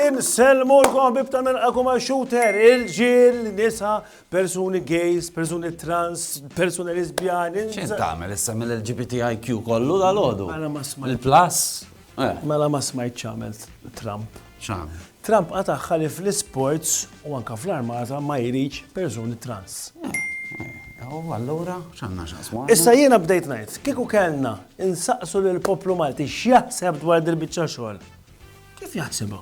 Insellmu l-kom bibta minn għakum shooter, il-ġil, nisa, persuni gays, persuni trans, persuni lesbjani. ċin tamel issa mill-LGBTIQ kollu dal-ħodu? Il-plus? Mela ma smajtx x'għamelt Trump. X'għamel? Trump qatagħha li fl-isports u anke fl-armata ma jridx persuni trans. Allura, x'għandna x'aqsmu? Issa jiena bdejt ngħid, kieku kellna insaqsu lill-poplu Malti x'jaħseb dwar dil-biċċa xogħol. Kif jaħsibha?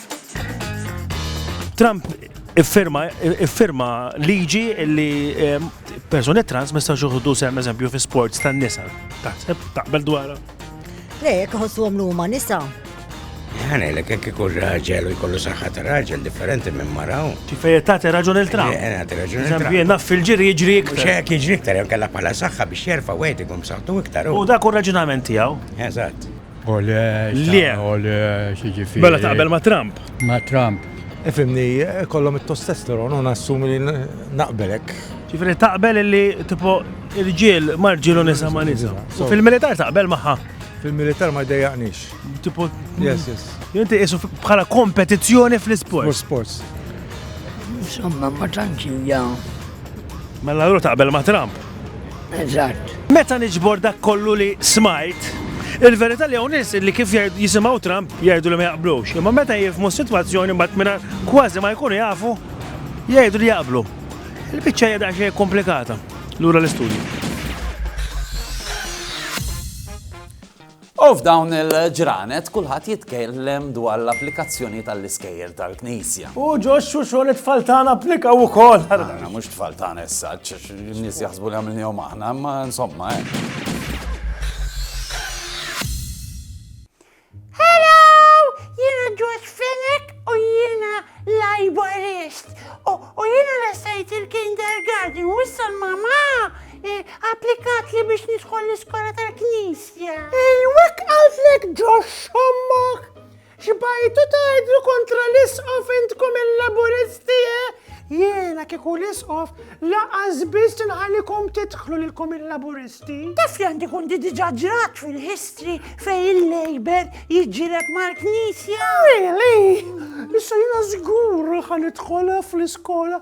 Trump iffirma liġi li ehm, persuni trans mista xuħdu sem eżempju fi sports tan nisa. Taħseb, taqbel dwara? Le, jek ħossu għamlu ma nisa. Għane, l kek ikun raġel u jkollu saħħat raġel differenti minn maraw. Tifej tagħti raġun il-tram. Eh, tagħti raġun il-tram. Zambi, naf fil-ġiri jiġri iktar. Xek jiġri iktar, jew kalla bħala saħħa biex jerfa' wieħed ikun b'saħħtu iktar. U dak u raġunament tiegħu. Eżatt. Ole, Le. ole, xiġifieri. Mela taqbel ma' Trump. Ma' Trump. Ifimni, kollom it-testosteron, u nassumi li n- naqbelek. Ġifiri taqbel illi tipo irġiel ma' rġiel u nisa ma' nisa. U fil-militar taqbel maħħa. Fil-militar ma jdejjaqnix. Tipo, Yes, yes. jinti isu bħala kompetizzjoni U fl-isport. sports. Insomma, ma tantx hija Mela allura taqbel ma' Trump. Eżatt. Meta niġbor dak kollu li smajt, il-verità li hawn nies li kif jisimgħu Trump jgħidu li ma jaqblux, imma meta jifhmu s-sitwazzjoni mbagħad mingħajr kważi ma jkunu jafu jgħidu li jaqblu. Il-biċċa hija daqsxejn komplikata lura l-istudju. U f'dawn il-ġranet kulħadd jitkellem dwar l-applikazzjoni tal-iskejjel tal-Knisja. U ġo x-xuxol it-tfal tagħna applikaw ukoll. Aħna mhux tfal tagħna issa, n-nies jaħsbu li għamilnihom aħna, imma insomma. Hello! Jiena George Fenech u jiena Laborist. U jiena l-estajt il-kindergarten u issa l-mama Eh, applikat li biex nidħol l-iskola tal-knisja. Ej, wek għalflek ġox xommok. Xbajtu tajdlu kontra l-isqof intkom il-laburisti, eh? Jena kiku l-isqof laqas biss nħalikom titħlu lilkom il-laburisti. Taf li għandi kundi diġa ġrat fil-history fej il-Labour jġiret mal-knisja. Really? Issa jena zgur ħanitħola fl-iskola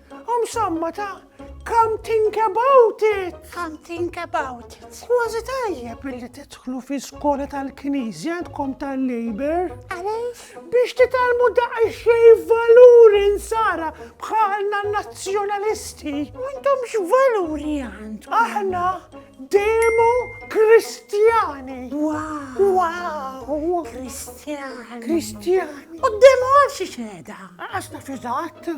Om samma ta' Come think about it! Come think about it! Kważi tajjeb illi titħlu fi skola tal-Knisja għandkom tal-Labor. Għaliex? Biex titalmu daqsxej valuri nsara bħalna nazzjonalisti. Għandhom x'valuri għand? Aħna demo kristjani. Wow! Wow! Kristjani. Kristjani. U demo għal xi xeda? Għax naf eżatt.